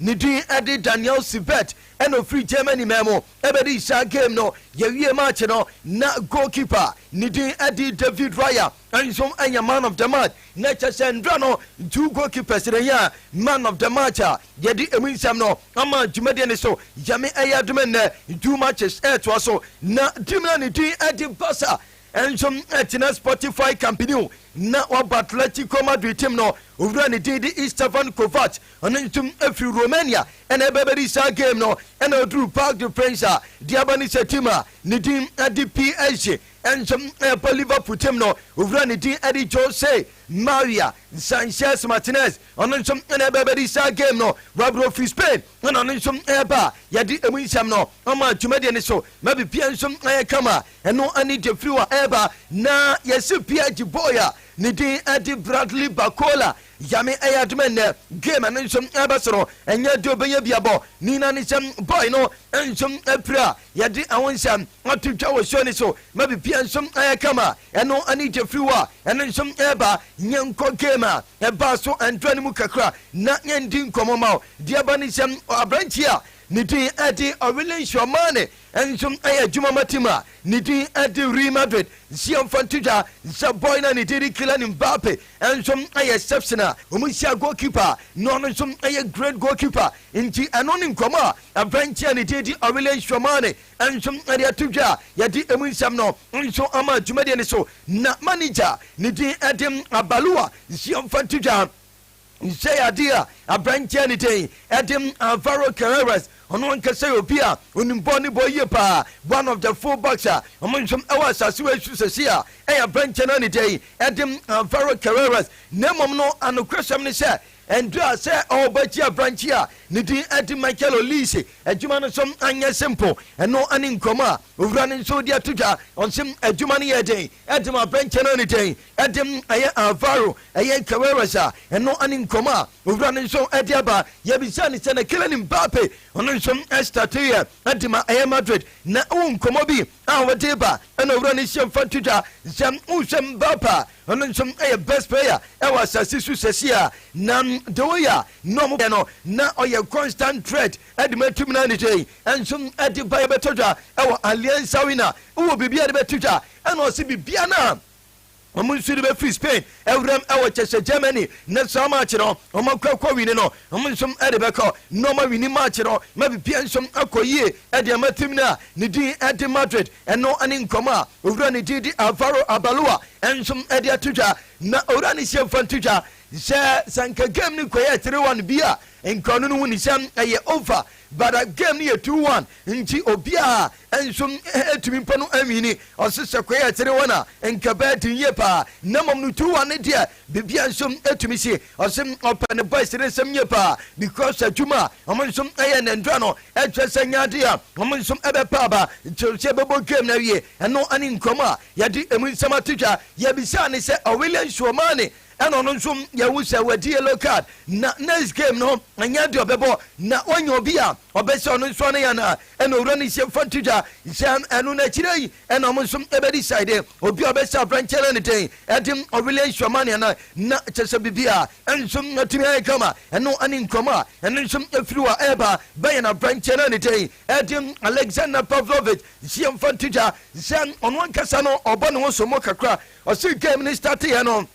Ne din de Daniel Sivert na ɔfiri Germany man mu bɛdii saa game no. Yɛwie match no na goal keeper a ne din de David Raya nso yɛ man of the match. Na kyɛ sɛ nnora no two goal keepers na ɛyɛ man of the match a yɛde ɛmu nsɛm no ama dwumadie no so. Nyame yɛ adom nnɛ two matches ɛretoa so na team no a ne din de Barca nso atena Spotify Camp Nou na waba Atletico Madrid team no owura ne din de Istvan Kovac. Ɔno nso firi Romania na ɛba bɛdi saa game no na ɔduru Parc de France a deɛ aba ne sɛ team a ne din de PSG nso ɛbɔ Liverpool team no owura ne din de Jose Maria Sanchez Martinez ɔno nso na ɛba bɛdi saa game no Wabro firi Spain na ɔno nso ɛba a yɛde emu nsɛm no ama dwumadie no so ma biribiara nso ayɛ kama ɛno ne deɛ firi hɔ ɛba na yɛsi PSG boy a ne din de Bradley Bacola Nyame ayɛ adom a nnɛ game no nso ɛba soro. Ɛnyɛ ade a ɔbɛnya bi abɔ ne nyinaa ne sɛ boy no nso apira a yɛde ɛho nsɛm ato dwa wɔ show no so ma biribiara nso ayɛ kama. Ɛno ne gyefiri hɔ a ɛno nso ɛreba. Yɛnkɔ game a ɛbaa so ɛndra no mu kakra na yɛndi nkɔmmɔ ma wo. Deɛ ɛba ne sɛ aberanteɛ a ne din ɛde Ɔwele Nhyira Ɔmane Nso ɛyɛ adwuma ma team a ne din de Real Madrid nhyia mfantodwa nhyɛ bɔ yi na ne din de Kylian Mbappe nso yɛ exception a wɔhyia goalkeeper a na ɔno nso yɛ great goalkeeper nti ɛno ne nkɔmmɔ a aberanteɛ a ne din de Aurelien Tchouameni nso de ato dwa a yɛde emu nsɛm no nso ama dwumadie no so na manager a ne din de Abaloa nhyia mfantodwa Nhyiade a aberanteɛ ne dɛn de Alvaro Carreras, ɔno ankasa yɛ obi a onim bɔɔl ne bɔɔl yie paa, one of the full backs a wɔn nhwɛm wɔ asase wei so sɛsi a ɛyɛ aberanteɛ no ne dɛn de Alvaro Carreras, na mmom no anokorɛsɛm ne sɛ ɛndura sɛ ɔrebɛgye aberanteɛ a ne din de Michael Olise adwuma no so anyɛ simple, ɛno ne nkɔmmɔ a owura no nso de ato dwa, ɔse adwuma no yɛ den de ma aberanteɛ no ne dɛn de no ɛyɛ Alvaro ɛyɛ Carreras a ɛno ne nkɔmmɔ a owura no nso de aba. Yɛbisaa no sɛ na Kylian Mbappe ɔno nso starteeɛ de ma ɛyɛ Madrid na wo nkɔmmɔ bi a wode reba ɛna owura no hyɛ mfa to dwa sɛ wohwɛ Mbappe a ɔno nso yɛ best player ɛwɔ asase so sɛsi a na de woyɛ a na ɔmo yɛ no na ɔyɛ constant threat de ma tim no a ne sɛ yi nso de ba yɛbɛtɔ dwa ɛwɔ Allianz Arena wowɔ biribi a de bɛto dwa ɛna ɔse biribi a na Wɔn nsu no bɛfiri Spain wuram wɔ kyɛhyɛ Germany, na saa March no wɔn akuakuo wini no wɔn nso de bɛkɔ, na wɔn awini March no ma biribiara nso akɔ yie de ama tim no a ne din de Madrid. Ɛno ne nkɔmmɔ a owura ne din de Alvaro Abalua nso de ato dwa, na owura no hyɛ mfa nto dwa sɛ sɛ anka game no kɔyɛɛ three one bi a nka ɔno no hu ne sɛ ɛyɛ over But that game no yɛ two one nti obiaa nso ɛtumi mpo no ɛnwini ɔse sɛ kɔ yɛ three one a nka ɛbɛyɛ den yie paa na mmom no two one no deɛ biribiaa nso ɛtumi si ɔse ɔpɛ ne boys no nsɛm yie paa because adwuma a wɔn nso ɛyɛ na ndura no ɛkyerɛ sɛ ɛnyɛ adeɛ a wɔn nso ɛbɛpa aba kyerɛ sɛ ɛbɛbɔ game no awie ɛno ɛne nkɔmmɔ a yɛde ɛmu nsɛm ato dwa yɛbisaa ne sɛ Ɔwillian Suomane Ɛna ɔno nso yɛhu sɛ wadi yellow card na next game no ɛnyɛ deɛ ɔbɛbɔ na wanya obi a ɔbɛsɛ ɔno nso ano yɛ no a ɛna owura no hyɛ fa to dwa sɛ ɛno no akyire yi ɛna ɔmo nso ɛbɛdi side obi a ɔbɛsɛ abrankyɛ no ne dɛn ɛde ɔwele nhyɛ ma nea no na kyɛ sɛ biribi a ɛnso atumi ayɛ kama ɛno ɛne nkɔmɔ a ɛno nso ɛfiri wɔ ɛba bɛyɛ na abrankyɛ no ne dɛn ɛde Alexander Pavlovich hyɛ fa to dwa sɛ ɔno ankasa no ɔbɔ ne ho so mo kakra Ɔsii game no start yɛ no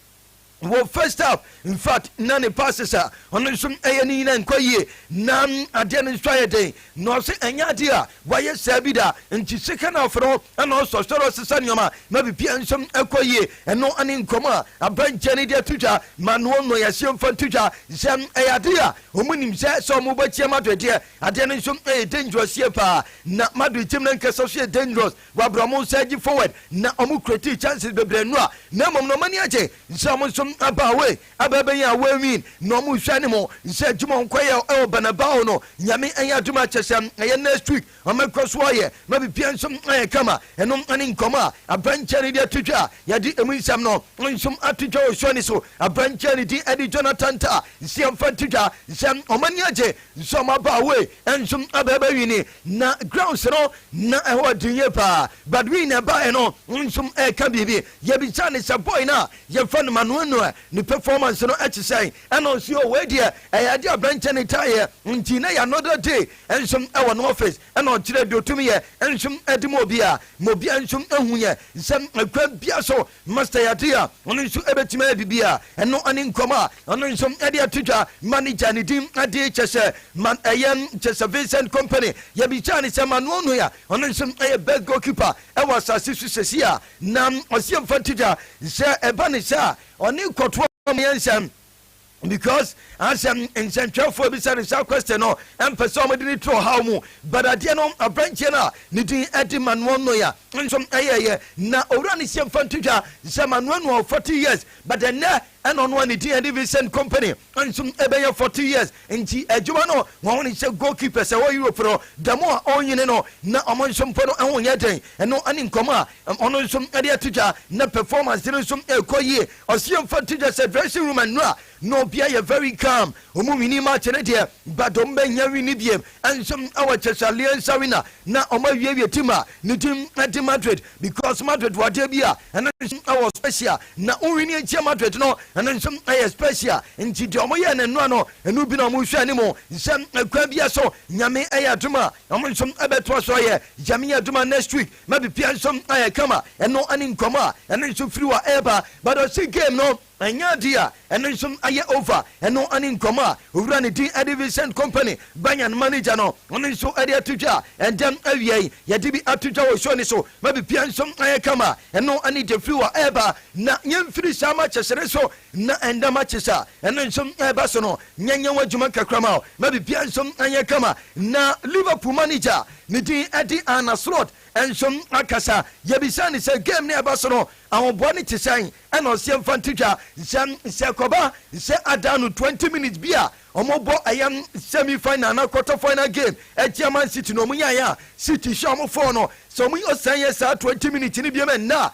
wɔ first half infact na ne passes a ɔno nso ɛyɛ no nyinaa nkɔ yie na adeɛ no nso ayɛ den na ɔse ɛnyɛ adeɛ a wayɛ saa bi da nti second half no ɛna ɔsɔ sɔrɔ ɔsesa nneɛma na biribiara nso ɛkɔ yie ɛno ɛne nkɔmɔ a abankyɛ no de ato dwa ma noɔ nnɔ yɛaseɛ mfa nto dwa sɛ ɛyɛ adeɛ a wɔn nim sɛ sɛ wɔn bɛkyia Madrid deɛ adeɛ no nso ɛyɛ dangerous yie paa na Madrid team no nkasa so yɛ dangerous Wɔabrɛ wɔn nsa adi forward na wɔn creating chances bebree no a, na mmom na wɔn ani agye nsɛ wɔn nso aba away aba abɛyɛ away win na wɔn rehwɛ anim nsɛ adwuma a wɔn kɔyɛ wɔ Banabao no Nyame anyɛ adom a kyɛsɛ ɛyɛ next week wɔn bɛkɔ so ayɛ ma biribiara nso ayɛ kama. Ɛno ne nkɔmmɔ a aberanteɛ no de ato dwa a yɛde emu nsɛm no nso ato dwa wɔ show no so. Aberanteɛ no din de Jonathan Tah. Nsia mfa nto dwa nsɛ wɔn ani agye nsɛ wɔn aba away nso aba abɛwini. Na grounds no na ɛhɔ den yie paa but me na ɛbaeɛ no nso ɛka biribi. Yɛbisaa no sɛ boy no a yɛfrɛ no Manoa Noa ne performance no te sɛn ɛna ɔse oh wei deɛ ɛyɛ adeɛ a aberanteɛ no taa yɛ nti na ɛyɛ another day nso wɔ no office ɛna ɔkyerɛɛ deɛ ɔtumi yɛ nso de ma obiara ma obiara nso hu yɛn sɛ kwan biara so Master Yatey a ɔno nso bɛtumi ayɛ biribi a ɛno ne nkɔm a ɔno nso de ato dwa. Manager a ne din de kyɛ sɛ Man ɛyɛ kyɛ sɛ Vincent Kompany. Yɛbisaa no sɛ Manuel Neuer ɔno nso yɛ best goalkeeper wɔ asase so seesei a, na ɔse yɛmfa nto dwa sɛ ɛba ne saa a ɔne kɔtoa mu yɛ nsɛm. because asɛ nsɛntwerɛfoɔ bisa no saa question no ɛmpɛ sɛ ɔmode ne turo haw mu but adeɛ no aberanteɛ no a ne din ɛde manoa noya nso ɛyɛyɛ na owura no sɛ mfa nto dwa sɛ manoa noa 40 years but ɛnɛ ɛna ɔno a ne din ɛde Vincent Kompany nso ɛbɛyɛ 40 years nti adwuma no wɔn ne sɛ goalkeepers ɛwɔ Europe no da mu a ɔnyini no na ɔmo nso mpo no ɛho nyɛ den ɛno ɛne nkɔmɔ a Ɔno nso de ato dwa na performance no nso rekɔ yie. Ɔseɛ mfa nto dwa sɛ dressing room anura na obiara yɛ very calm. Wɔn winnie match no deɛ Badom bɛhia winnie biam nso wɔ Chesaliens Arena na wɔawiewie team a ne din de Madrid because Madrid wɔ adeɛ bi a ɛno nso wɔ special na wo winnie akyia Madrid no ɛno nso yɛ special nti deɛ wɔyɛɛ no nnora no ɛno bi na wɔhwɛ anim sɛ kwan biara so nyame ɛyɛ adom a wɔn nso ɛbɛtoa so ayɛ yame adom a next week Na biribiara nso ayɛ kama, ɛno ne nguam a ɛno nso firi hɔ a ɛreba. But ɔse game no ɛnyɛ adeɛ a ɛno nso ayɛ over, ɛno ne nguam a owura ne din de Vincent Kompany, Bayern manager no, ɔno nso de ato dwa. Ɛndɛ awia yi yɛde bi ato dwa wɔ show no so. Ma biribiara nso ayɛ kama, ɛno ne deɛ firi hɔ a ɛreba. Na yɛmfiri saa matches no so Nna nda ma kyerɛ sɛ ɛno nso ɛreba so no, nyɛnyɛn w'adwuma kakra ma ma biribiara nso nyɛ kama. Na Liverpool manager a ne din de Arne Slot nso akasa. Yɛbisaa no sɛ game no a ɛba so no ahoboa no te sɛn, ɛna ɔse yɛmfa nto dwa sɛ sɛ ɛkɔba sɛ adan no twenty minutes bi a wɔbɔ ɛyɛ semi final anaa quarter final game atia Man City na wɔnyaeɛ a City hyɛ wɔn four no, sɛ wɔyɛ ɔsan yɛ saa twenty minutes no biom ɛnnɛ a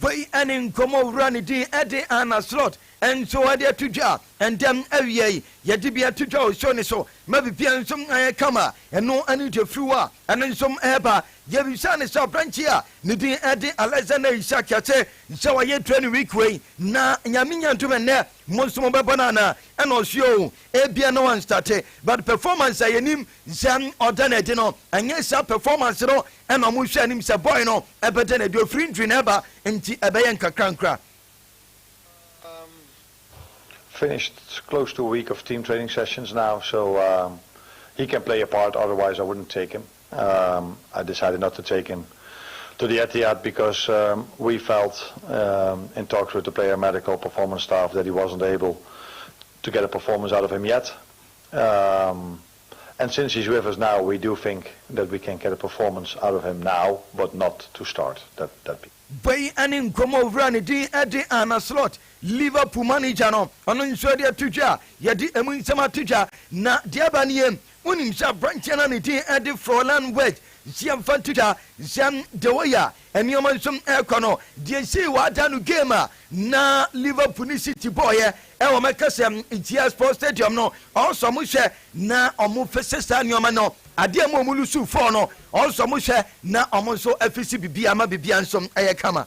Wei ne nkɔmmɔ wura ne din de Anna Slot nso de ato dwa. Ɛnda awia yi yɛde bi ato dwa wɔ show no so ma biribiara nso ayɛ kama. Ɛno ne The Flu a ɛno nso ɛreba. Yɛbisa no sɛ aberanteɛ a ne din de Alexander Isak Kyakye sɛ wayɛ training week wei na Nyame nya adom ɛnnɛ mo nso mobɛbɔ no anaa? Ɛna ɔse oo, ebia na wanstarte but performance a yɛnim sɛ ɔda no adi no ɛnyɛ saa performance no Ɛna ɔmo hwɛ anim sɛ boy no ɛbɛda no adi ofiri ndwiri na ɛba nti ɛbɛyɛ nkakrankra. Um finished close to a week of team training sessions now so um he can play a part otherwise I wouldn't take him um I decided not to take him to the Etihad because um we felt um in talks with the player medical performance staff that he wasn't able to get a performance out of him yet um And since he's with us now we do think that we can get a performance out of him now but not to start that that be. Bɔ yi ɛne nkɔmmɔ owura ne din de Arne Slot, Liverpool manager no, ɔno nso de ato dwa, yɛde ɛmu nsɛm ato dwa na deɛ aba nie, wonim sɛ aberanteɛ no a ne din de Florian Wirtz, nso yɛmfa nto dwa sɛ deɛ ɔyɛ a Nneɛma nso rekɔ no, deɛ sei wɔadan no game a na Liverpool ne City bɔɔeɛ ɛwɔ wɔn ɛkasa mu ntia Sports Stadium no, ɔnso wɔn hwɛ na wɔn fese saa nneɛma no, adeɛ mu wɔn lusu four no, ɔnso wɔn hwɛ na wɔn nso afisi biribiara ma biribiara nso ɛyɛ kama.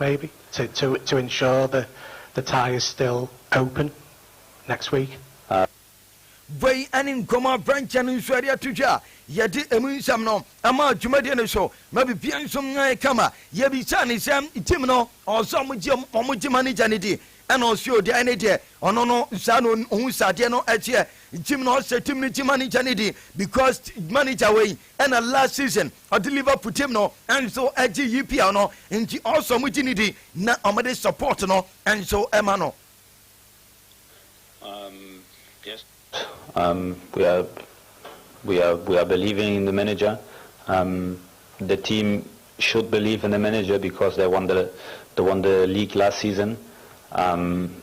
Maybe to to to ensure the the tie is still open next week. Wei ne nkɔmmɔ a Branch no nso de ato dwa a yɛde emu nsɛm no ama dwumadie no so ma biribiara nso ayɛ kama. Yɛbisaa no sɛ team no ɔwɔ sɛ wɔn gye wɔn gye manager no di ɛna ɔse o deɛ ɛne deɛ ɔno no saa na ɔhu sɛ adeɛ no ɛteɛ. Team no ɔse team no gye manager no di because manager wei ɛna last season Ɔde Liverpool team no nso gye EPL no nti ɔsɔ ɔmo gye ne di na ɔmo de support no nso ma no. Um, yes. Um, we are, we are, we are believing in the manager. Um, the team should believe in the manager because they won the, they won the league last season. Um,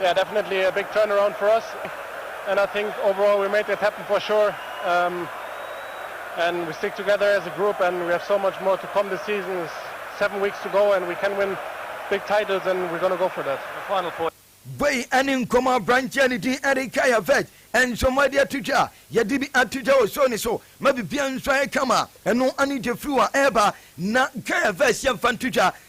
Yeah, definitely a big turnaround for us, and I think overall we made it happen for sure. Um, and we stick together as a group, and we have so much more to come this season. It's seven weeks to go, and we can win big titles, and we're going to go for that. The final point. Wei ne nkɔmɔ aberanteɛ ne din Eric Ayavej nso ma de ato dwa a yɛde bi ato dwa wɔ show ne so ma bibia nso ayɛ kama ɛno ane Jeffrey a ɛreba na Kayavej yɛmfa nto dwa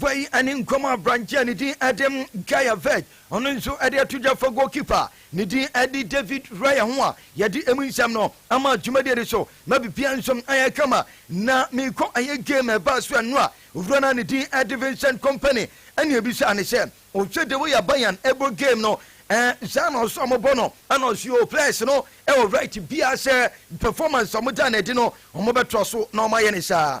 Gua yi ne nguam aberanteɛ a ne din de Gaya Veg, ɔno nso de ato dwa fa goalkeeper a ne din de David Raya ho a yɛde emu nsɛm no ama dwumadie no so ma biribiara nso ayɛ kama. Na merekɔ ayɛ game a ɛbaa so ɛno a, owura no a ne din de Vincent Kompany na ɛbisaa no sɛ, Wohwɛ the way a Bayern bɔ game no eh, saa na ɔsɛ wɔbɔ no? Ɛna ɔse oh, players no wɔ right biara sɛ performance a wɔdaa no adi no wɔbɛtoa so na wɔayɛ no saa.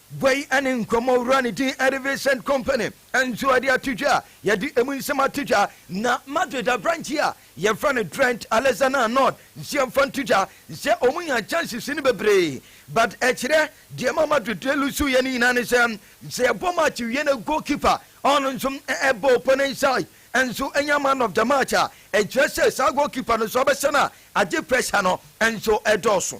Gua yi ne nkɔmmɔwura no din de Vincent Kompany nso de ato dwa a yɛde emu nsɛm ato dwa, na Madrid aberanteɛ a yɛfrɛ no Trent Alexander-Arnold nso yɛmfa nto dwa sɛ wɔnya chances no bebree. But ɛkyerɛ deɛ ɛma Madrid lusu yɛ no nyinaa ne sɛ, sɛ yɛbɔ match wie na goalkeeper a ɔno nso bɔ opponent side nso nya man of the match a, ɛkyerɛ sɛ saa goalkeeper no nso abɛsane a agye pressure no nso dɔɔso.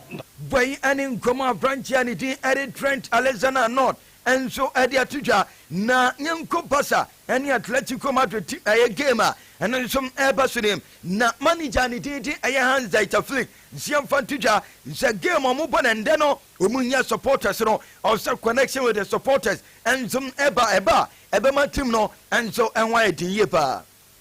Bɔ yi ne nkɔmmɔ a aberanteɛ a ne din de Trent Alexander-Arnold nso de ato dwa. Na yɛnkɔ Barca ne Atletico Madrid ti ɛyɛ game a ɛno nso ɛreba so no mu. Na manager a ne din de ɛyɛ Hans-Dieter Flick nso yɛmfa nto dwa sɛ game a wɔbɔ no ɛnnɛ no wɔnya supporters no ɔsɛ connection with the supporters nso ba. Ɛba a ɛbɛma team no nso ho ayɛ den yie pa ara.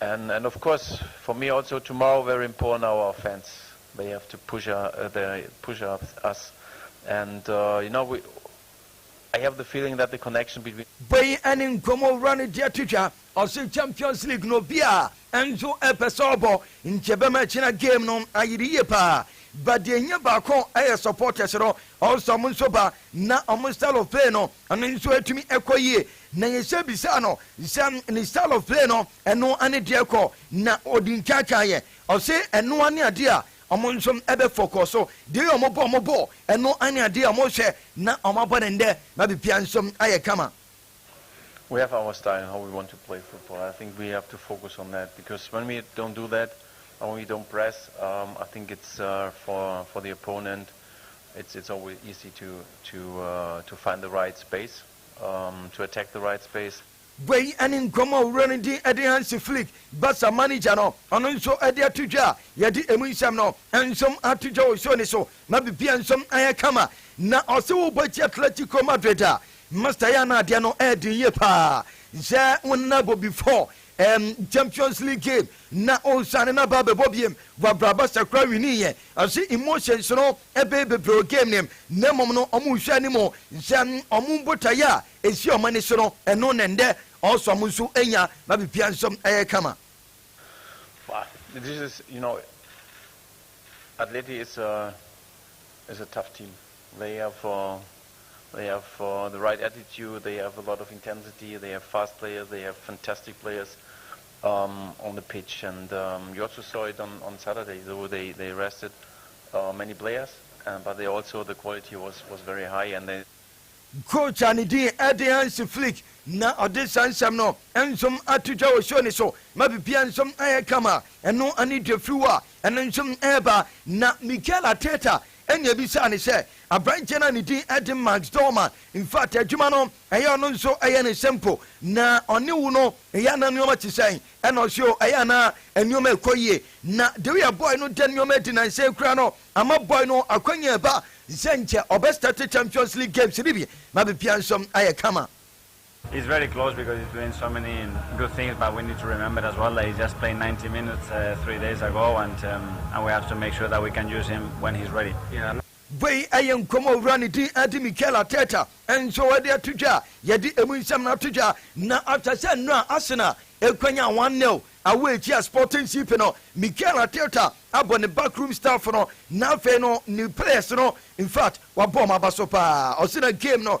And and of course for me also tomorrow very important our offense they have to push uh, they push up us and uh, you know we I have the feeling that the connection between bɔ yi ɛne nkɔmɔwura no deɛ to dwa ɔse champions league no bia ɛnso ɛpɛ sɛ ɔbɔ nti ɛbɛma ɛkyena game no ayere yie paa ba deɛ ɛhia baako ɛyɛ supporters no ɔsɛ ɔmo nso ba na ɔmo style of play no ɛno nso ɛtumi ɛkɔ yie Na Yese bisaa no sɛ, Ne Saulo flee no, ɛno ne deɛ kɔ na ɔdi nkaakaeɛ? Ɔse, Ɛno ne adeɛ a wɔn nso bɛfɔkɔɔ so. Deɛ yɛ wɔbɔ wɔn bɔ, ɛno ne adeɛ a wɔhwɛ na wɔabɔ no nnɛ ma biribiara nso ayɛ kama. We have our style in how we want to play football. I think we have to focus on that because when we don't do that, and when we don't press, um, I think it's uh, for for the opponent, it's it's always easy to to uh, to find the right space. to attack the right space. Gua yi ne nkɔmmɔ a Owura no di de Hansi Flick, Barca manager no, ɔno nso de ato dwa a yɛde emu nsɛm no nso ato dwa wɔ show no so ma biribiara nso ayɛ kama. Na ɔse wobɔ atia Atletico Madrid a, Master yɛ a na adeɛ no ɛyɛ den yie paa. Sɛ wo nna bɔ before Ɛm champions league game na ɔsane no aba abɛbɔ biom wɔ abraba sakora winii yɛ ɔse emotions no ɛbɛyɛ bebree wɔ game no mu na mmom no ɔmo nhwɛ anim nhwɛ ɔmo botaeɛ a ɛsi ɔmo ani so no ɛno na ɛndɛ ɔso ɔmo nso anya ma biribiara nso ɛyɛ kama. But this is you know Atleti is a is a tough team. They have they have the right attitude, they have a lot of intensity, they have fast players, they have fantastic players um, on the pitch. And um, you also saw it on, on Saturday, though they, they rested uh, many players, uh, but they also, the quality was, was very high. and they Coach a ne din ɛde Hans Flick na ɔde saa nsɛm no nsom ato dwa wɔ show ne so ma biribiara nsom ayɛ kama ɛno ne dwafiriw a ɛno nsom ɛreba na Mikel Arteta Ɛnna ebisaa no sɛ, Aberanteɛ no a ne din de Max Dorman, mfata adwuma no, ɛyɛ ɔno nso ɛyɛ ne simple, na ɔne wo no, ɛyɛ a na nneɛma te sɛn? Ɛnna ɔse, O, ɛyɛ a na nneɛma rekɔ yie. Na the way a boy no da nneɛma adi nnansa yi koraa no ama boy no akwanya reba sɛ nkyɛ ɔbɛstarte Champions League games no bi ma biribiara nso ayɛ kama. It's very close because he's doing so many good things but we need to remember as well that he just played 90 minutes uh, three days ago and, um, and we have to make sure that we can use him when he's ready. Yeah. Wei ɛyɛ nkɔm a owura ne din ɛde Mikel Arteta nso ɛde ato dwa a yɛde emu nsɛm no ato dwa na after sɛ nnura Arsenal ekwanya 1-0 awɔ ekyia Sporting CP no Mikel Arteta abɔ ne backroom staff no na afei no ne players no in fact wabɔ wɔn aba so paa ɔsɛ na game no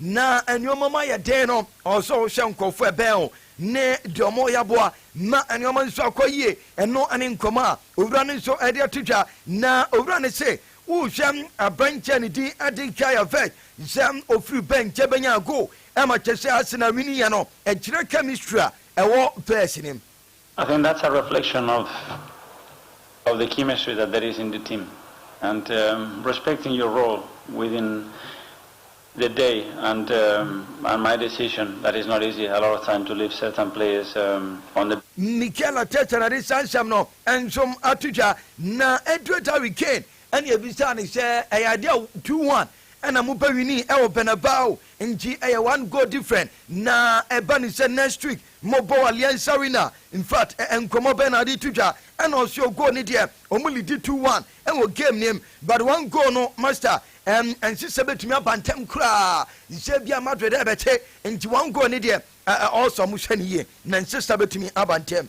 Na nnoɔma mu ayɛ den no, ɔwɔ sɛ wohwɛ nkorɔfoɔ a ɛbɛn wo ne deɛ wɔyɛ aboa ma nnoɔma nso akɔ yie. Ɛno ne nkɔmmɔ a Owura no nso de ato dwa. Na Owura no se, Worehwɛ aberanteɛ a ne din de Nkiah Vech sɛ ɔfiri Bench bɛnya goal ma Kyesɛ Arsenal winiiɛ no, ɛkyerɛ chemistry a ɛwɔ verse no mu. I think that's a reflection of of the chemistry that there is in the team and um, respecting your role within the day and um, and my decision that is not easy a lot of time to leave certain players um, on the Mikel Arteta na de saa nsɛm no nso ato dwa na Edward Harry Kane ɛna ebisaa no sɛ ɛyɛ ade a two one ɛna mo bɛ winii ɛwɔ Bernabeu nti ɛyɛ one goal different na ɛba ne sɛ next week Mo bɔ alianza arena infact ɛ nkɔmɔ bɛn na ɔde to dwa ɛna ɔse o goal ne deɛ ɔmo lidi two one ɛwɔ game ne mu but one goal no master ɛm ɛnse sɛ bɛtumi aba ntɛm koraa nsɛ ebia Madrid ɛbɛte nti one goal ne deɛ ɛ ɔɔsɛ ɔmo hwɛ no yie na ɛnse sɛ bɛtumi aba ntɛm.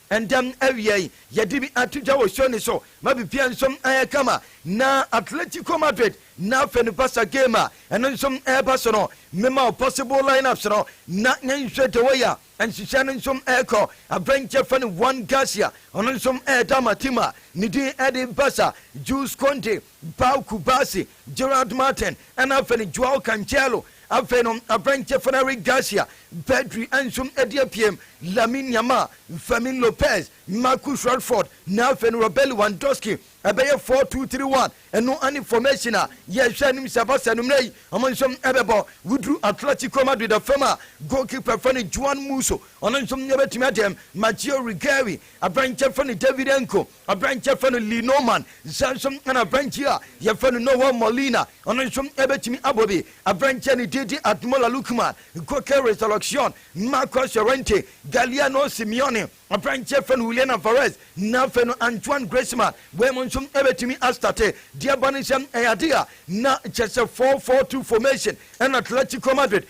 Ntɛm awia yi, yɛde bi ato dwa wɔ Sony so ma biribiara nso ayɛ kama. Ná Atletico Madrid na afei no Barca game a ɛno nso reba so no, mema wo possible line-ups no na yɛnhwɛ the way a nhyehyɛe no nso rekɔ. Aberanteɛ a wɔfrɛ no Juan Garcia, ɔno nso reda Martima, ne din de Barca, Jules Koundé, Bau Cubarsí, Gerard Martin, ɛna afei no Joao Cancelo, afei no aberanteɛ fa no Eric Garcia, Pedri nso adi apue, Lamine Yamal, Fermin Lopez, Marcus Rashford, na afei no Robert Lewandowski. Ɛbɛyɛ four two three one, ɛno ne formation a yɛhwɛ anim sɛ Barca no mmerɛ yi wɔn nso ɛbɛbɔ. Woduru Atletico Madrid afam a, goalkeeper fa no Juan Musso, ɔno nso bɛtumi adeɛ, Matteo Regueiri, aberanteɛ fa no David Nko, Aberanteɛ yɛfrɛ no Lee Norman nsa nso na aberanteɛ a yɛfrɛ no Noel Molina ɔno nso bɛtumi abɔ bi. Aberanteɛ a ne din de Admola Lookman, Goke Resurrection, Marcos Llorente, Galiano Simeone, aberanteɛ yɛfrɛ no Julian Alvarez na afei no Antoine Griezmann wɔnom nso bɛtumi astate. Deɛ ɛba ne sɛ ɛyɛ adeɛ a na kyerɛ sɛ four four two formation ɛna Atletico Madrid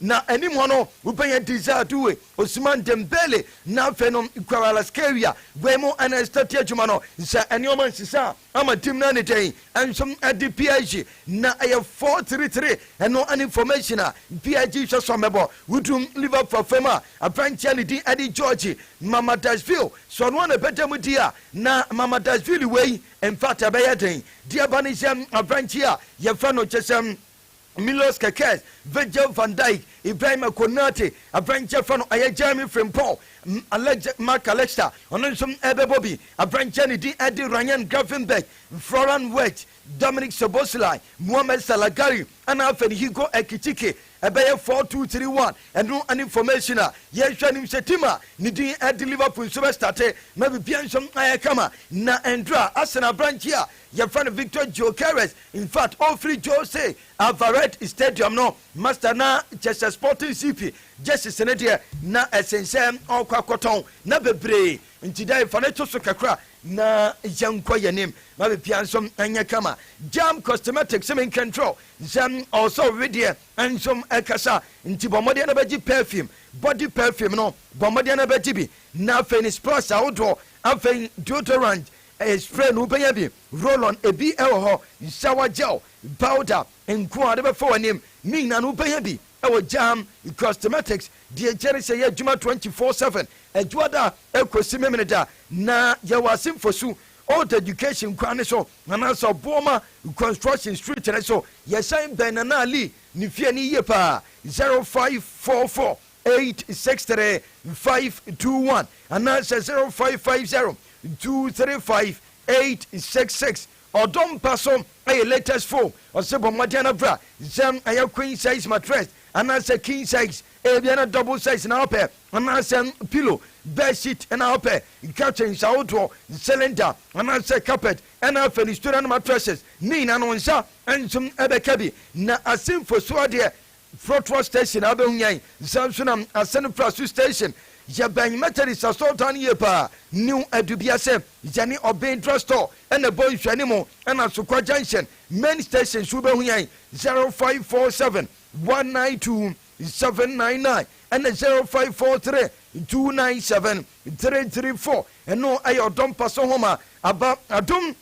Na anim hɔ no, wobenya Dizadue, Ousmane Dembele, na afei no Kvaratskhelia. Wei mu na Esther di adwuma no. Sɛ nneɛma nsesa a, ama team no ayɛ no dɛn? Nso ɛde PSG na ɛyɛ four three three, ɛno ne formation a PSG hwɛ sɛ wɔbɛbɔ. Wodu Liverpool afam a, aberanteɛ a ne din de George Mamadashvili, sɛ ɔno na ɛbɛda mu di a, na Mamadashvili wei, in fact ɛbɛyɛ den. Deɛ ɛba ne sɛ, aberanteɛ a wɔfrɛ no kyɛ sɛ, Milos Kerkez, Virgil van Dijk, Ibrahima Konate, aberanteɛ fa no ɛyɛ Jeremy Frimpong, Alex Marc Alexter, ɔno nso ɛrebɛbɔ bi, aberanteɛ ne din ɛde Rayan Gravenberch, Florian Wirtz, Dominik Szoboszlai, Mohamed Salagari ɛna afei ne Hugo Ekitike, ɛbɛyɛ four two three one, ɛno ɛne formation a yɛrehwɛ anim sɛ team a ne din ɛde Liverpool nso bɛstarte na biribiara nso ayɛ kama na ɛndura Arsenal aberanteɛ a Yɛfrɛ no Victor Gyokeres, infact ɔfiri Jose Alvarez Stadium no, Master na kyerɛ sɛ Sporting CP jerseys no deɛ na ɛsen sɛ ɔrekɔ akɔtɔn na bebree nti dai fa no to so kakra na yɛnkɔ yɛn anim ma biribiara nso nyɛ kama. Jam Cosmetics menka nkyerɛ wo sɛ ɔwɔ sɛ ɔwe deɛ nso ɛkasa nti bɔ mmɔden na bɛgye perfume, body perfume no bɔ mmɔden na bɛgye bi na afei no splash ahodoɔ afei deodorant Ɛyɛ spray na wobɛnya bi, roll-on, ebi wɔ hɔ, shower gel, powder nko a wode bɛfa w'anim. Ne nyinaa no wobɛnya bi wɔ Jaham Cosmetics, deɛ gyɛre sɛ ɛyɛ adwuma twenty four seven, Adwoada kɔsi Memeneda. Na yɛwɔ ase Nfosu Old Education kwan no so anaasɛ Obuoma Construction Street no so. Yɛsan bɛn Nana Ali ne fie no yie paa, zero five four four Eight six three five two one anaasɛ zero five five zero two three five eight six six ɔdɔ mpa so ɛyɛ latest foam ɔsɛ bɔ mmɔden na fira sɛ ɛyɛ queen size mattress anaasɛ king size ebia na double size na ɔpɛ anaasɛ pillow bed sheet na ɔpɛ curtains ahodoɔ cylinder anaasɛ carpet ɛna afɛ ne student mattresses ne nyinaa no nsa nso ɛbɛka bi na asenfo so adeɛ Frɔtoa station a bɛhu yɛn nsa nso na Asɛnfraso station. Yɛ bɛn Methodist asɔrtan no yie paa. New Adubia sɛ yɛ ne Ɔben drug store ɛna ɛbɔ nhwɛanim ɛna Asokwa junction main station nso wo bɛhu yɛn 0547 192 799 ɛna 0543 297 334 ɛno ɛyɛ ɔdɔ mpa so nhoma aba adom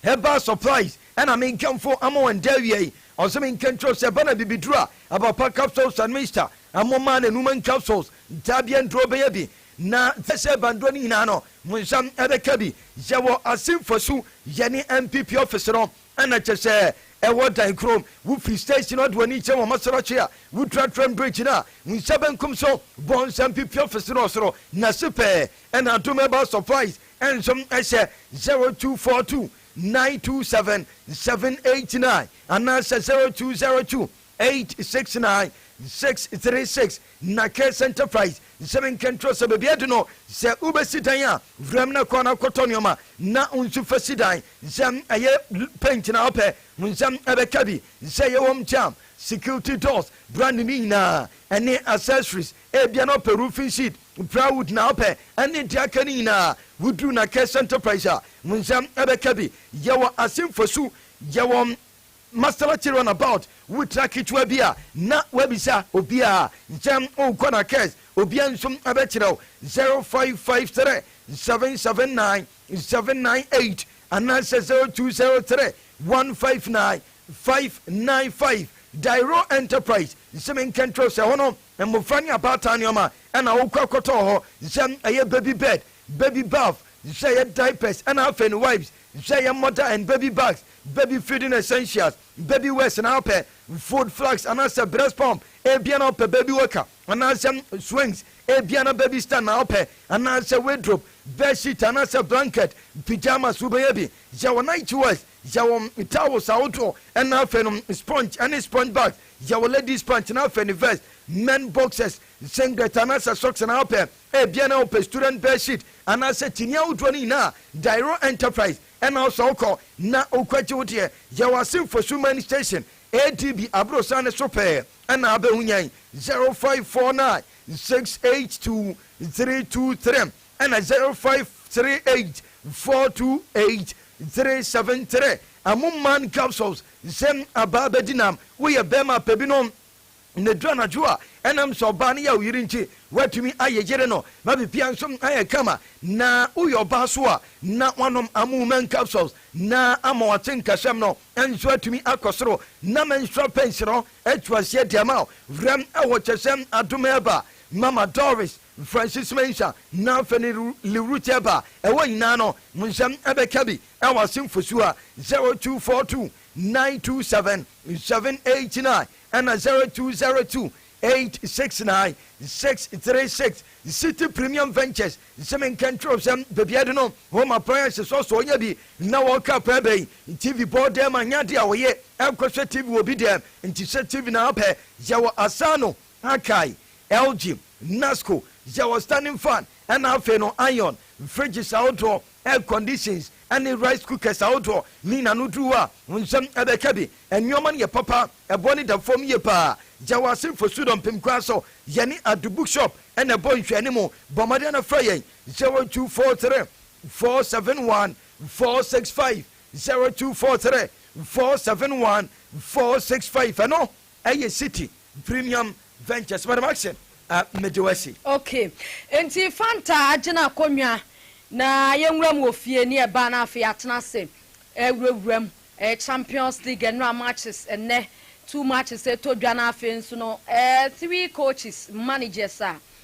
Ɛbaa surprise ɛna me nkamfo ama wɔn da awia yi ɔse me nka nkyerɛ wo sɛ ɛba na bibiduro a Abapa capsules and Mister mo maa no Numan capsules daabia nduro bɛyɛ bi na sɛ ɛba nduro no nyinaa no mo nsa ɛbɛka bi yɛwɔ ase nfasu yɛne NPP office no ɛna kyɛ sɛ ɛwɔ dan koro wo firi station no de w'ani kyerɛ Wɔmasrachi a wo dura train bridge no a wo nsa benkum so bɔ nsa NPP office no ɔsoro na ase pɛɛ ɛna adom ɛbaa surprise Nsom hyɛ 0242 927 789 anaasɛ 0202 869 636 na Cares Enterprise sɛ menka nkyerɛ wo sɛ baabi adu no sɛ wobɛsi dan a wura mu na kɔ na kɔtɔ nneɛma na wo nso fa si dan sɛ ɛyɛ paint na wopɛ wo nsa ɛbɛka bi sɛ ɛyɛ home charm security doors brand ne nyinaa ɛne accessories Ebia na ɔpɛ roofing sheet, plywood na ɔpɛ ɛne deɛ aka no nyinaa. Woduru Nakesh Enterprise a, mo nsa bɛka bi. Yɛwɔ Asim Fosu, yɛwɔ Masala Kyere on about. Wotra ketewa bi a, na woabisa obiara sɛ worekɔ Nakesh, obiara nso bɛkyerɛ wo. 0553 779 798 anaasɛ 0203 159 595. Dairo Enterprise, se menka nkyerɛ wo sɛ ɛhɔ no Mmofra ne abaatan nneɛma na wokura kɔtɔɔ hɔ, nhyɛ ɛyɛ baby bed, baby bath, nhyɛ ɛyɛ diapers na afei no wipes, nhyɛ ɛyɛ mother and baby bags, baby feeding essentials, baby wears na wopɛ food flask anaasɛ breast pump, ebia na wopɛ baby walker anaasɛ swings, ebia na baby stand na wopɛ anaasɛ wardrobe, bed sheet anaasɛ blanket, pyjamas wobɛyɛ bi, hyɛ wo night wears, hyɛ wo towels ahodoɔ na afei no sponge ne sponge bags, Yɛ wo ladies pant na afɛ ne vest, men boxers, singlet anaasɛ socks na apɛ ebia na wopɛ student bed sheet anaasɛ tini ahodoɔ no nyinaa a, Dairo Enterprise na ɔsɔ wo kɔ na wokɔgye wo deɛ. Yɛ w'ase Nfosu Main Station, ADB, Abrosan no so pɛɛ na abɛhu yɛn. 0549 682 323 ɛna 0538 428 373 Amuman Capsules. Nsɛm abaa bɛdi nam woyɛ bɛɛma pɛ binom na ɛduru anadwo a ɛnam sɛ ɔbaa no yɛ wo yere nti woatumi ayɛ yere no ma bibia nso ayɛ kama na woyɛ ɔbaa so a na woanom amu man capsules na ama wate nkasɛm no nso atumi akɔ soro na menstrual pains no atu aseɛ de ama wo werɛm ɛwɔ kyɛsɛm adom ɛba mama doris Francis Mencha na Feni Lirucheb a ɛwɔ nyinaa no mo nsɛm bɛka bi wɔ ase mfosua 0242 927 789 ɛna 0202 869 636 City Premium Ventures se menka nkyerɛw sɛ baabi ade no home appliances ɔsɔ ɔnya bi na wɔka paa bɛyi TV bɔ dɛm anyɛ ade a wɔyɛ ɛkɔhwɛ TV wɔ bi dɛm nti sɛ TV na apɛ yɛwɔ asaano Akae, Elgin, Nasco, yɛ wɔ standing fan ɛna afei no iron, fridges ahodoɔ, air conditions ɛne rice cookers ahodoɔ ne nyinaa no duru a wo nsam ɛbɛka bi. Nnoɔma no yɛ papa, ɛboɔ no da fam yie paa. Yɛ wɔ ase Fosudo Mpem kwan so, yɛne Adu book shop ɛna ɛbɔ nhwɛanimu. Bɔ mmɔden na frɛ yɛn 0243 471 465, 0243 471 465 ɛno. Ɛyɛ City Premium Ventures Madam Action a mede wo asi. Ok nti Fanta agyina akonwa na yɛnwura mu wɔ fie ne ɛbaa na afei yɛatena ase ɛrewurawura mu ɛyɛ Champions League ɛnora matches ɛnnɛ two matches ɛtɔ dwa na afei nso no ɛɛ three coaches managers a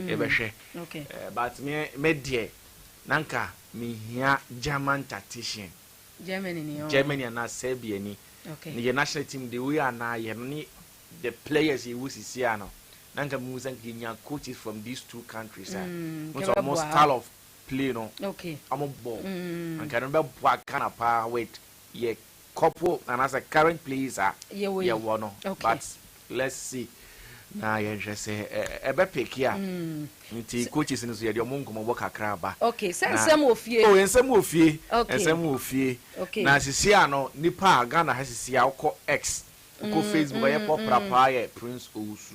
yɛbɛhwɛ but me me deɛ na nka mehia German tactician Germany ni oh. Germany anaa Serbia ni okay. yɛ national team de wei anaa yɛ no ne the players yɛ wɔ sisi ano na nka mu sɛ nka nya coaches from these two countries a mm, mo sɛ ɔmo style of play no okay. ɔmo bɔ mm. nka no bɛboa Ghana paa with yɛ couple anaasɛ current place a yɛwɔ no but let's see na yɛnhwɛ sɛ ɛbɛ peke a nti coaches no so yɛde ɔmo nkɔmmɔbɔ kakra aba okay sɛ nsɛm wɔ fie oh nsɛm wɔ fie nsɛm wɔ fie na sisi a no nipa a Ghana ha sisi a wokɔ X wokɔ Facebook ɔyɛ pɔ prapaa yɛ Prince Owusu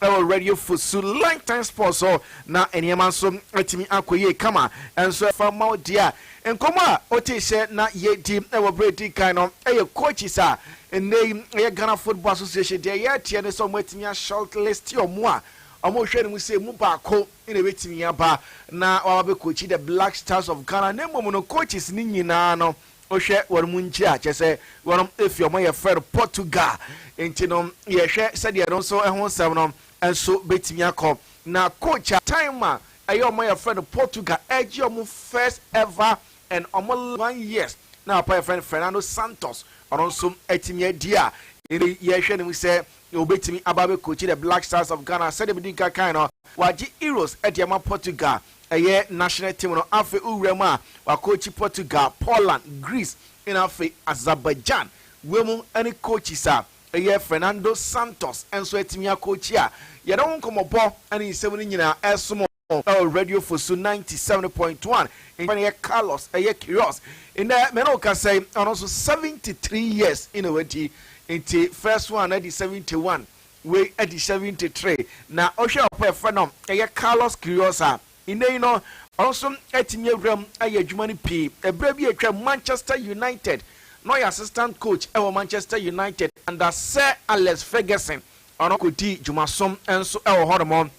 Wɔ Radio Fosu Line Time Sport so na nneɛma nso atumi akɔ yie kama nso. Fa ma wo dear. Nkɔmmɔ a ɔtee sɛ na yɛredi wɔ berɛ a ɛdi kan no yɛ coaches a nnɛ yi ɛyɛ Ghana Football Association. Deɛ yɛreteɛ ne sɛ wɔatumi a short list wɔn a wɔrehwɛ no mu sɛ ɛmu baako na ɛbɛtumi aba na waba bɛcoachi the Black Stars of Ghana na mmom no coaches no nyinaa no Wohwɛ wɔnom nkyiri a, kyerɛ sɛ wɔnom efi ɔman a yɛfrɛ no Portugal. Nti no yɛhwɛ sɛdeɛ ɛno nso ɛho nsɛm no nso bɛtumi akɔ. Na coach a time a ɛyɛ ɔman a yɛfrɛ no Portugal ɛregye wɔn first ever and wɔn one years na papa a yɛfrɛ no Fernando Santos ɔno nso atumi adi a ɛnɛ yi yɛhwɛ no mu sɛ ɔbɛtumi aba abɛcoachi the Black Stars of Ghana. Sɛdeɛ medi nka kan no, wɔagye Euros de ama Portugal Ɛyɛ national team no afei wo wura mu a wakɔɔkyi Portugal, Poland, Greece ɛna afei Azerbaijan wɔ mu ɛne coaches a ɛyɛ Fernando Santos nso atumi akɔɔkyi a yɛne wo nkɔmɔbɔ ɛne nsɛm no nyinaa ɛresom ɛwɔ radio fosu ninety seven point one nkyɛn ɛyɛ Carlos ɛyɛ Queiroz nnɛ mene wo kasa yi ɔno nso seventy three years ɛna wadi nti first one adi seventy one Wei adi 73 na ɔhwɛɛ ɔpɔn a yɛfrɛ no ɛyɛ Carlos Queiroz a nnɛ yi no ɔno nso atumi awura mu ayɛ adwuma no pii. Ɛberɛ bi a atwam Manchester United na ɔyɛ assistant coach wɔ Manchester United under Sir Alex Ferguson ɔno kɔdii dwumasom nso wɔ hɔnom.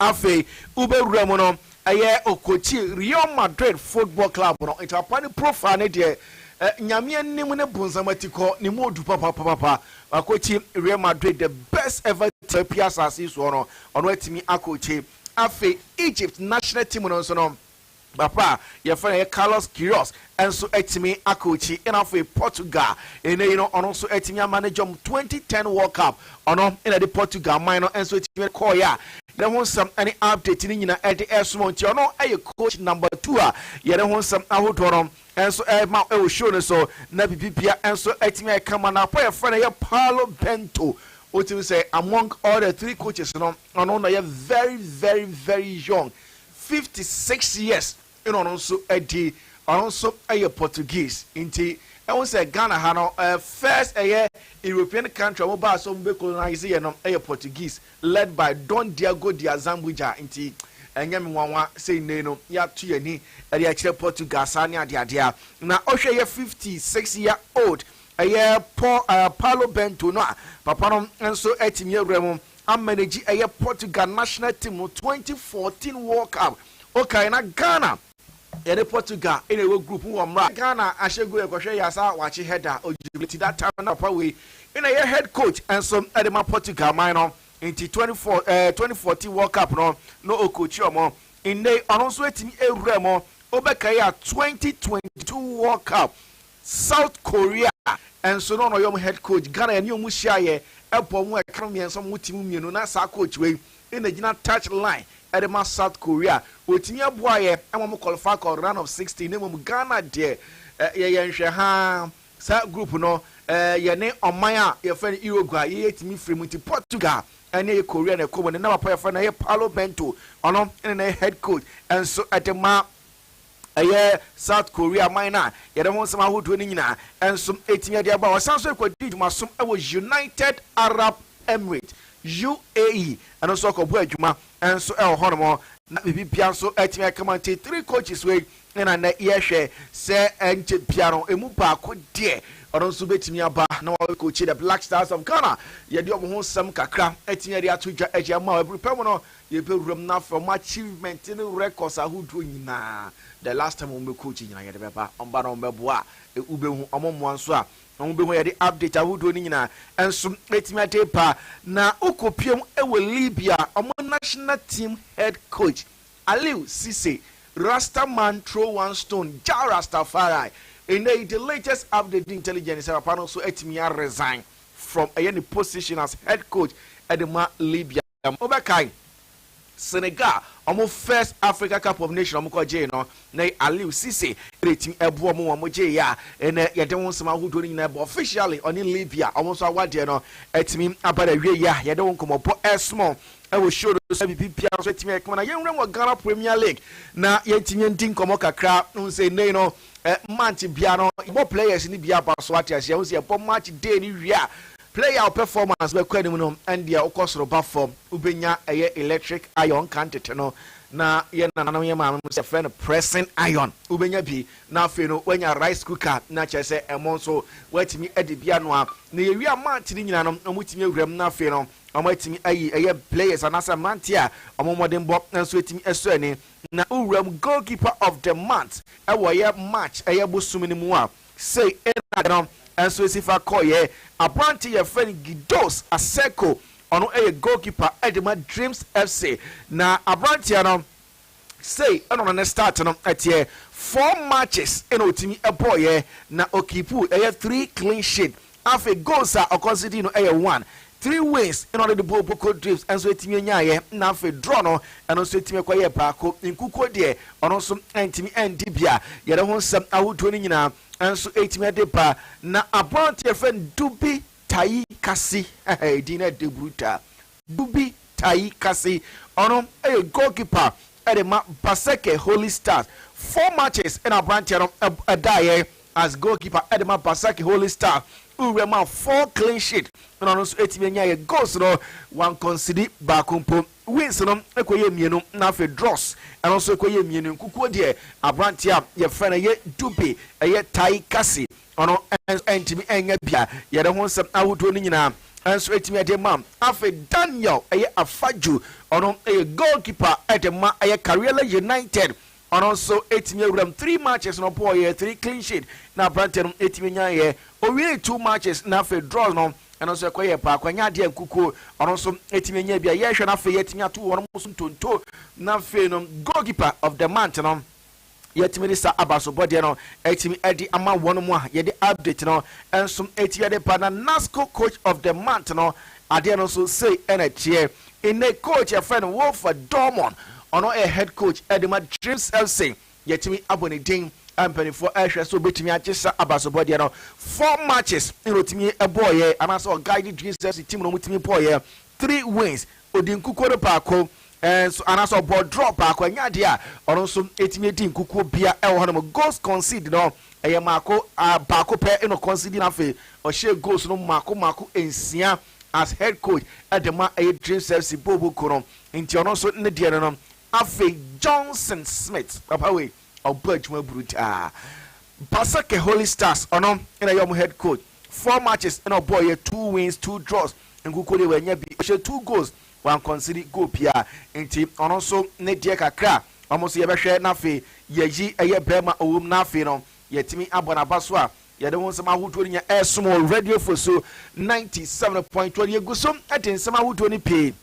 Afei wobɛwura mu no, ɛyɛ ɔkɔkyi Real Madrid football club no. Nti papa no profile no deɛ, Nyame anim ne bonsam atikɔ, ne mu ɔdu papapapapa. Wakɔkyi Real Madrid, the best ever team apue asase yi soɔ no, ɔno atumi akɔkyi. Afei Egypt national team no nso no, Ba pa a wɔfrɛ no Carlos Queiroz nso atumi akookyi na afei Portugal nnɛyi no ɔno nso atumi ama ne dwam twenty-ten World Cup ɔno na de Portugal man no nso atumi de kɔɔeɛ a yɛne ho nsɛm ne update no nyina ɛde ɛresoma wo nti ɔno yɛ coach number two a yɛne ho nsɛm ahodoɔ no nso ɛrema wɔ show no so na bibibia nso atumi ayɛ kama na pa yɛfrɛ no yɛ Paulo Bento wotumi sɛ among all the three coaches no ɔno na yɛ very very very young fifty six years na ɔno nso adi, ɔno nso yɛ Portuguese, nti wohu sɛ Ghana ha no first ɛyɛ European country a wɔbaa sɛ wɔbɛ colonise yɛ no yɛ Portuguese led by Don Diago de Azambuja, nti ɛnyɛ me nwanwa sɛ nnɛyi no yɛato yɛn ani de akyerɛ Portugal saa ne adeadeɛ a na ɔhwɛ yɛ fifty six year old ɛyɛ Paulo Bento no a papa no nso atumi awura mu amanage ɛyɛ Portugal national team no twenty fourteen world cup okae na Ghana ɛne Portugal ɛna ɛwɔ group mu wɔ mmra Ghana ahyɛ goal ɛkɔhwɛ yɛ asa wakye header ɔgyina ti that time na papa wei ɛna ɛyɛ head coach ɛnso ɛde ma Portugal man no nti twenty four ɛɛ eh, twenty fourteen world cup no na ɔkɔkyi ɔmo nnɛ ɔno nso ɛtumi ɛwura mu ɔbɛka yɛ a twenty twenty two world cup South Korea nso na ɔno ɔyɛ wɔn head coach. Ghana yɛne wɔn hyiaeɛ bɔɔ wɔn ɛka no mmiɛnsa wɔn team mmienu na saa coach wei na ɛgyina touch line de ma South Korea. Ɔtumi boaeɛ ma wɔn qualify kɔɔ round of sixteen na mmom Ghana deɛ yɛyɛ nhwɛ haa saa group no yɛne ɔman a yɛfrɛ no Uruguay yɛ yɛtumi firi mu nti Portugal ɛne ɛyɛ Korea na ɛkɔ mu ne na papa yɛfrɛ no ɛyɛ Paulo Bento ɔno ne na yɛ head coach nso de ma Ɛyɛ South Korea man no a yɛde ho nsɛm ahodoɔ no nyinaa nso tumi de ba. Ɔsan nso kɔdi dwumaso wɔ United Arab Emirates, UAE, ɛno nso ɔkɔbɔ adwuma nso wɔ hɔnom na biribi biara nso atumi akama nti three coaches wei na nnɛ yɛhwɛ sɛ nkyɛ bia no emu baako deɛ ɔno nso bɛtumi aba na wɔyɛ coach the Black Stars of Ghana yɛde ɔmo ho nsɛm kakra atumi de ato dwa agya mu a ɛburu pɛ mu no Yɛbɛwura mu na afei wɔn achievement ne records ahodoɔ nyinaa the last time wɔn bɛ coach nyinaa yɛde bɛba wɔn ba na wɔn bɛboa a wobɛhu wɔn mmoa nso a wɔn bɛhu yɛde update ahodoɔ no nyinaa nso ɛtumi ade ba na wokɔpiam wɔ Libya wɔn national team head coach Aliou Cisse Rasta man throw one stone Jah Rastafari ɛnɛ yi the latest update ne intelligence sɛ papa no nso atumi a resign from ɛyɛ ne position as head coach ɛde ma Libya. Mobɛkae Senegal wɔn first Africa Cup of Nation wɔn kɔ gyee no, na Aliou Cisse na etumi ɛboa wɔn wɔn gyee yɛ a ɛnɛ yɛde ho nsɛm ahodoɔ no nyinaa ɛbɔ officially ɔne Libya wɔn nso awadeɛ no atumi aba n'awieɛ a yɛde ho nkɔmɔbɔ ɛsomɔ ɛwɔ show no so bibi biara nso atumi ɛkama na yɛnwura mu wɔ Ghana Premier League na yɛntumi ndi nkɔmɔ kakra n sɛ nnɛ no eh, month biara no yɛbɔ players no bi aba so ate aseɛ ho sɛ yɛbɔ match day no wie a Player a wo performance bɛkɔ anim no ɛndeɛ wokɔ soro ba fam wobɛnya ɛyɛ electric iron nkan tete no na yɛn nananom yɛn maamenom sɛ yɛfrɛ no pressing iron wobɛnya bi na afei no woanya rice cooker na kyerɛ sɛ ɛmo nso woatumi adi bi anoa na yɛwie a match no nyina no wɔtumi awura mu na afei no wɔatumi ayi ɛyɛ players anaasɛ mmeranteɛ a wɔn mmɔdenbɔ nso atumi asɔ ani na wowura mu goalkeeper of the month ɛwɔ ɛyɛ match ɛyɛ bosom no mu a sei na da no nso ɛsi fa kɔeɛ. Aberante yɛfrɛ no Gidos Asseco, ɔno yɛ goalkeeper de ma Dreams FC. Na aberanteɛ no sei na ɔno ne start no teɛ, four matches na ɔtumi bɔeɛ na ɔkiipuu ɛyɛ three clean sheet Afei goals a ɔconsidered no yɛ one, three wins na ɔde de bɔɔ Boko Drips nso etumi nyaeɛ na afei draw no ɛno nso etumi kɔyɛɛ baako. Nkukuo deɛ ɔno nso antumi andi bi a yɛde ho nsɛm ahodoɔ no nyinaa nso etumi de ba. Na aberanteɛ yɛfrɛ no Dubi Tayi Kasi, edin no yɛ dɛ brutal. Dubi Tayi ka se ɔno yɛ goalkeeper de ma Baseke Holy Stars. Four matches na aberanteɛ no daeɛ as goalkeeper de ma Baseke Holy Stars. Wuram a four clean sheet na ɔno nso tumi nyaeɛ. Goals no, wankɔnsidi baako mpo. Wins no kɔyɛɛ mmienu na afei draws ɛno nso kɔyɛɛ mmienu. Nkukuo deɛ, aberanteɛ a yɛfrɛ no yɛ Dubi Tayi Kasi Ɔno nso antumi annya bi a yɛde ho nsɛm ahodoɔ no nyinaa nso atumi de ma. Afei Daniel ɛyɛ Afadju, ɔno yɛ goalkeeper de ma ɛyɛ Kariela United. Ɔno nso atumi awuram three matches no ɔbɔɔyɛ, three clean sheet na aberanteɛ no atumi nyaeɛ. Ɔwiee two matches na afei draws no ɛno nso ɛkɔyɛɛ paako, ɛnyɛ adeɛ a nkukuo ɔno nso atumi anya bi a yɛrehwɛ no afei yɛatumi ato wɔn nso ntonto. Na afei no goalkeeper of the month no Yɛtumi de saa abasobɔdeɛ no atumi de ama wɔn mu a yɛde update no nso ɛti yɛde ba na NASCO coach of the month no adeɛ no nso sei ɛna ɛteɛ nnɛ coach yɛfrɛ no Wolfer Dormon ɔno ɛyɛ head coach ɛde ma Dreams FC yɛtumi abɔ ne din mpanimfoɔ ɛhwɛ so bɛtumi agye saa abasobɔdeɛ no four matches ɛna ɔtumi ɛbɔɔyɛ anaasɛ ɔguide Dreams FC team no ɔmutumi bɔɔyɛ three wins Ɔdi nkukuo no baako nso anaasɛ ɔbɔ draw baako ɛnyɛ adeɛ a ɔno nso ɛtumi ɛdi nkukuo bia ɛwɔ hɔ nom. Goals concede no ɛyɛ mmaako baako pɛ na ɔconcede na afei ɔhyɛ goals no mmaako mmaako nsia as head coach ɛde ma ɛyɛ Dreams FC boobo kuo no nti ɔno nso ne deɛ no no. Afei Johnson Smith papa wei ɔbɔ adwuma brutaa. Basake Holy Stars ɔno na ɛyɛ wɔn head coach. Four matches na ɔbɔeɛ, two wins, two draws, nkukuo deɛ wanya bi. Ɔhyɛ two goals, wankɔnsidi goal biara. Nti ɔno nso ne deɛ kakra a, wɔn nso yɛbɛhwɛ na afei yɛayi ɛyɛ barima ɔwɔ mu na afei no yɛatumi abɔ n'aba so a yɛde ho nsɛm ahodoɔ no nya ɛresom wɔ Radio Fosu ninety seven point one. Yɛgu so de nsɛm ahodoɔ no pii.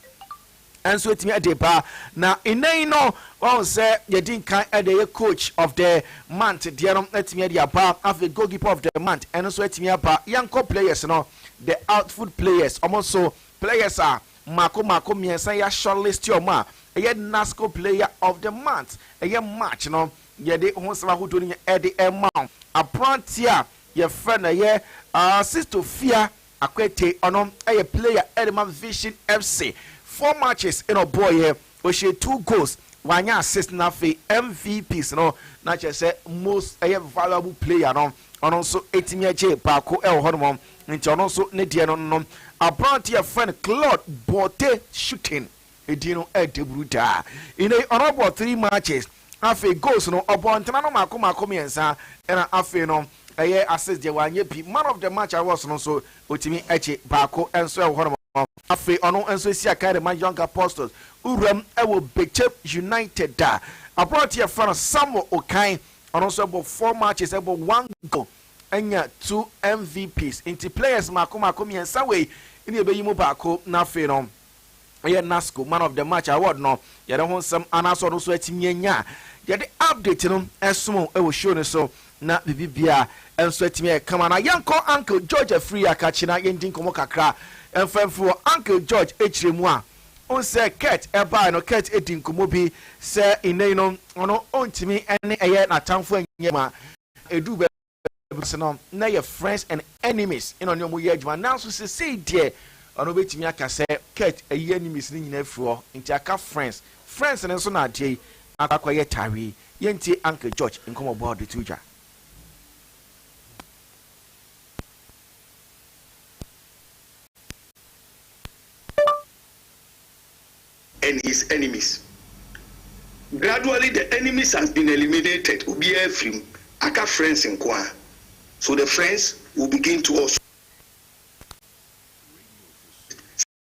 nso atumi de ba na nnɛ yi no wɔn sɛ yɛdi nkan de ɛyɛ coach of the month deɛ no atumi de aba afei goalkeeper of the month ɛno nso atumi aba yɛnkɔ players no the outfield players wɔn nso players a mako mako mmiɛnsa yɛ shortlist wɔn a ɛyɛ nasco player of the month ɛyɛ march no yɛde ho nsɛm ahodoɔ no nyɛ ɛde ɛma wɔn aberanteɛ a yɛfrɛ no ɛyɛ uh, sisto fia Akwete ɔno yɛ player ɛde ma Vision FC, four matches na ɔbɔɔyɛ, ɔhyɛɛ two goals, wanyɛ assist na afei MVPs no na kyerɛ sɛ most ɛyɛ valuable player no ɔno nso ɛtumi agye baako ɛwɔ hɔ nom, nti ɔno nso ne deɛ no no. Aberanteɛ yɛfrɛ no Claude Borte Schutten. Edin no yɛ dawuru daa. Nnɛ yi ɔrebɔ three matches. Afei goals no ɔbɔ ntena no mako mako mmiɛnsa ɛna afei no ɛyɛ assist deɛ wanyɛ bi. Man of the match awards no nso ɔtumi gye baako nso ɛwɔ hɔnom. Afei ɔno nso esi akan de ma Young Apostles wuram ɛwɔ Bekyem United da. Aberanteɛ yɛfrɛ no Samuel Okai ɔno nso ɛbɔ four matches ɛbɔ one goal anya two MVPs. Nti players mako mako mmiɛnsa wei ne ɛbɛyi mu baako na afei no ɛyɛ nasco man of the match award no yɛde ho nsɛm anaasɛ ɔno nso atumi anya a yɛde update no ɛsom ɛwɔ show no so na biribi bia ɛnso atumi ayɛ kama na yɛnkɔ uncle george afiri akakye na yɛndi nkɔmmɔ kakra ɛmfa mfiri wɔ uncle george akyire mu a onsɛ kurt ɛbae no kurt ɛdi nkɔmmɔ bi sɛ nnɛyi no ɔno ɔntumi ɛne ɛyɛ n'atamfo anyɛ ma ɛdu bɛ Bibles no, na yɛ friends and enemies na ɔne wɔn yɛ adwuma. Nanso sesei deɛ, ɔno bɛtumi aka sɛ, Kurt, ayi enemies no nyinaa afiri hɔ, nti aka friends. Friends no nso na adeɛ yi akɔ akɔyɛ tare yi. Yɛntie Uncle George nkɔmmɔbɔ a ɔde too dwa. and his enemies gradually the enemies has been eliminated obiara afiri mu aka friends nko ara so the friends will begin to also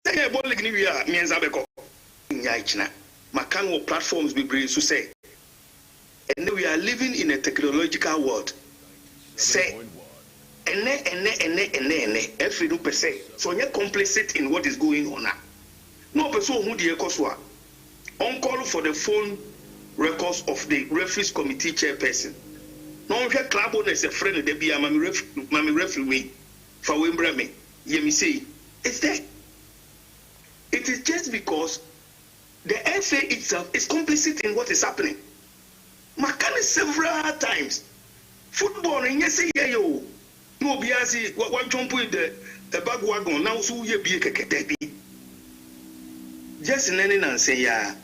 Sɛ yɛbɔ league no wie a, mmiɛnsa bɛkɔ. Nnyae gyina. Maka no wɔ platforms bebree so sɛ. Ɛnnɛ we are living in a technological world sɛ ɛnnɛ ɛnnɛ ɛnnɛ ɛnnɛ ɛnnɛ ɛfiri no pɛ sɛ sɛ ɔnyɛ complicit in what is going on a na ɔpɛ sɛ ɔhu deɛ ɛkɔ so a ɔncall for the phone records of the referees committee chairperson na ɔnhwɛ club owners ɛfrɛ no da biara ma me ref ma me referee wei fa wei mbrɛ me yɛ me sei it's there it is just because The NSA itself is complicit in what is happening. Maka no several times, football no nyɛ sɛ yɛyɛ o na obiara se wa wa jump in the bag wagon na wo so woyɛ bie kɛkɛ, dabi. Just nnɛ ne nansa yi ara.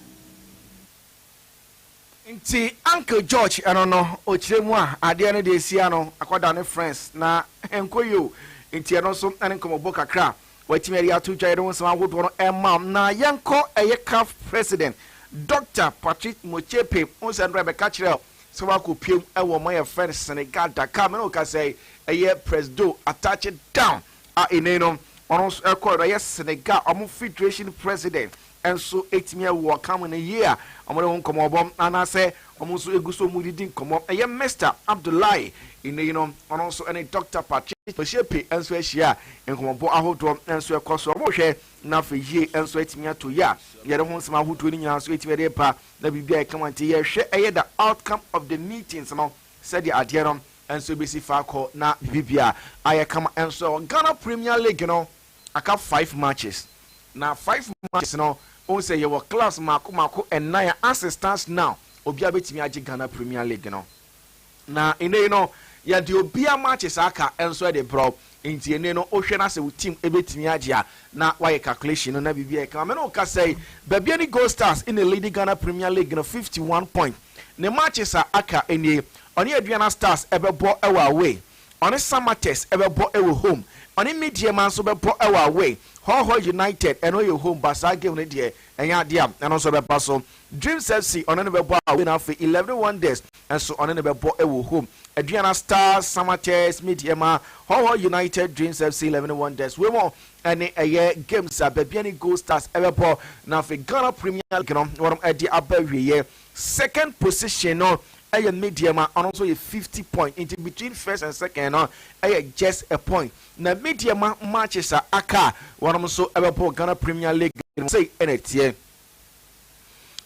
Nti Uncle George ɛno no ɔkyerɛ mu a adeɛ no deɛ asi ano akɔda ne friends na ɛnkɔ yie o. Nti ɛno nso ne nkɔmmɔbɔ kakra a watumi ɛde ato dwa yɛde wo nsɛm ahodoɔ no ɛma wo. Na yɛnkɔ ɛyɛ caf president Doctor Patrick Motsepe ho nsɛm no ɛbɛka kyerɛ wo sɛ wakɔ piem ɛwɔ ɔman a yɛfrɛ no Senegal Dakar. Me ne wo kasa yi ɛyɛ Presdo attache down. A Ene no, ɔno nso ɛkɔɔ do. Ɛyɛ Senegal, wɔn federation president nso tumi wɔ ɔka mu ne yea a wɔde ho nkɔmmɔ bɔ anaasɛ wɔn nso gu so didi nkɔmmɔ. Ɛyɛ Mister Abdoulaye Ene yi no, ɔno nso ne Doctor Patrice Motsepe nso ahyia a nkɔmmɔbɔ ahodoɔ nso ɛkɔ so. Wɔrehwɛ na afei yie nso atumi ato yea. Yɛde ho nsɛm ahodoɔ no nyinaa nso atumi de reba na biribi a ɛka ho a nti yɛhwɛ ɛyɛ the outcome of the meetings no. Sɛdeɛ adeɛ no nso bɛsi fa kɔ na biribiara ayɛ kama nso, Ghana Premier League no aka five matches. Na five matches no, wohu sɛ yɛwɔ clubs mmaako mmaako nnan a as it stands now, obiara bɛtumi agye Ghana Premier League no. Na nnɛ yi no, yɛde obiara matches a aka nso de brɛ wo. Nti nnɛ no, wohwɛ na sɛ wo team bɛtumi agye a, na woayɛ calculation no na biribiara ayɛ kama. Me ne wo kasa yi, baabi a ne Gold Stars na ɛleadi Ghana Premier League no fifty one points. Ne matches a aka nie, ɔne Aduana Stars bɛbɔ wɔ away, ɔne Samatex bɛbɔ wɔ home, ɔne Medeama nso bɛbɔ wɔ away, Hɔhɔ United ɛno yɛ home but saa game no deɛ ɛnyɛ adeɛ a ɛno nso bɛba so. Dreams FC ɔne no bɛbɔ away na afei Eleven Wonders nso ɔne no bɛbɔ wɔ home. Aduana Stars, Samatex, Medeama, Hɔhɔ United, Dreams FC, Eleven Wonders wei mu ɛne ɛyɛ games a baabi ne gold stars ɛbɛbɔ na afei ghana premier league no wɔn ɛde aba awieɛ second position no ɛyɛ medium a ɔno nso yɛ fifty point nti between first and second no ɛyɛ just a point na medium matches a aka wɔn nso ɛbɛbɔ ghana premier league no sɛ ɛna ɛteɛ.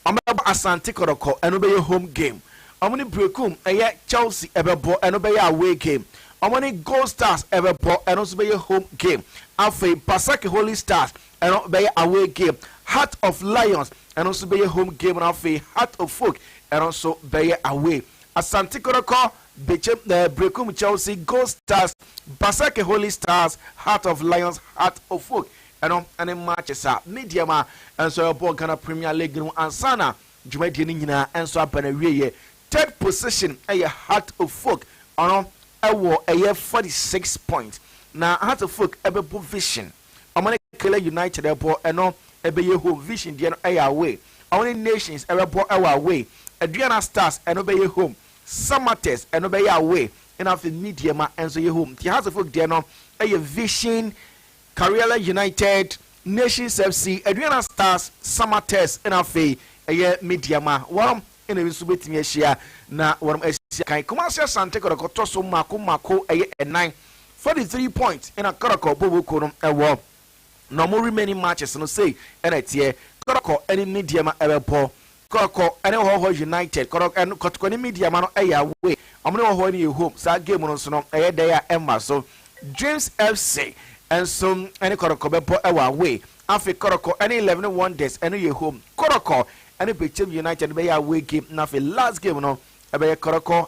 Wɔbɛbɔ Asante Kɔrɔkɔ, ɛno bɛyɛ home game. Wɔn ne Berekum, ɛyɛ Chelsea ɛbɛbɔ, ɛno bɛyɛ away game. Wɔn ne Gold Stars ɛbɛbɔ, ɛno nso bɛyɛ home game. Afei Basake Holy Stars, ɛno bɛyɛ away game. Heart of Lions, ɛno nso bɛyɛ home game na afei Heart of Folk, ɛno nso bɛyɛ away. Asante Kɔrɔkɔ, Bekyem, eh, Berekum, Chelsea, Gold Stars, Basake Holy Stars, Heart of Lions, Heart of Folk, Ɛno ne matches a Medeama nso ɛbɔɔ Ghana Premier League no ansa na dwumadie no nyinaa nso aba n'awieɛ. Third position yɛ Hearts of Oak, ɔno wɔ ɛyɛ forty six points. Na Hearts of Oak bɛbɔ Vision, wɔn ne Kayla United ɛbɔ, ɛno ɛbɛyɛ home, Vision deɛ no ɛyɛ away. Wɔn ne Nations ɛbɛbɔ ɛwɔ away, Aduana Stars ɛno bɛyɛ home, Samatex ɛno bɛyɛ away, ɛna afei Medeama nso yɛ home. Nti Hearts of Oak deɛ no ɛyɛ Vision Karela United, Nations FC, Aduana Stars, Samatex na afei ɛyɛ Media ma wɔnom na ebi nso bɛtumi ahyia na wɔnom asi akan. Kumasi Asante Kɔtɔkɔ tɔ so mmaako mmaako ɛyɛ nnan, forty three points na Kɔtɔkɔ Boboko no ɛwɔ na wɔn remaining matches no sei na ɛteɛ, Kɔtɔkɔ ɛne Media ma ɛbɛbɔ Kɔrɔkɔ ne Hɔhɔ United, Kɔrɔ ɛn Kɔtɔkɔ ne Medeama no yɛ away, wɔn ne Hɔhɔ no yɛ home, saa game no nso no ɛyɛ dɛ a ɛmma so. Dreams FC nso ne Kɔrɔkɔ bɛbɔ wɔ away, afei Kɔrɔkɔ ne Eleven Wonders ɛno yɛ home, Kɔrɔkɔ ne Pekyem United no bɛyɛ away game na afei last game no ɛbɛyɛ Kɔrɔkɔ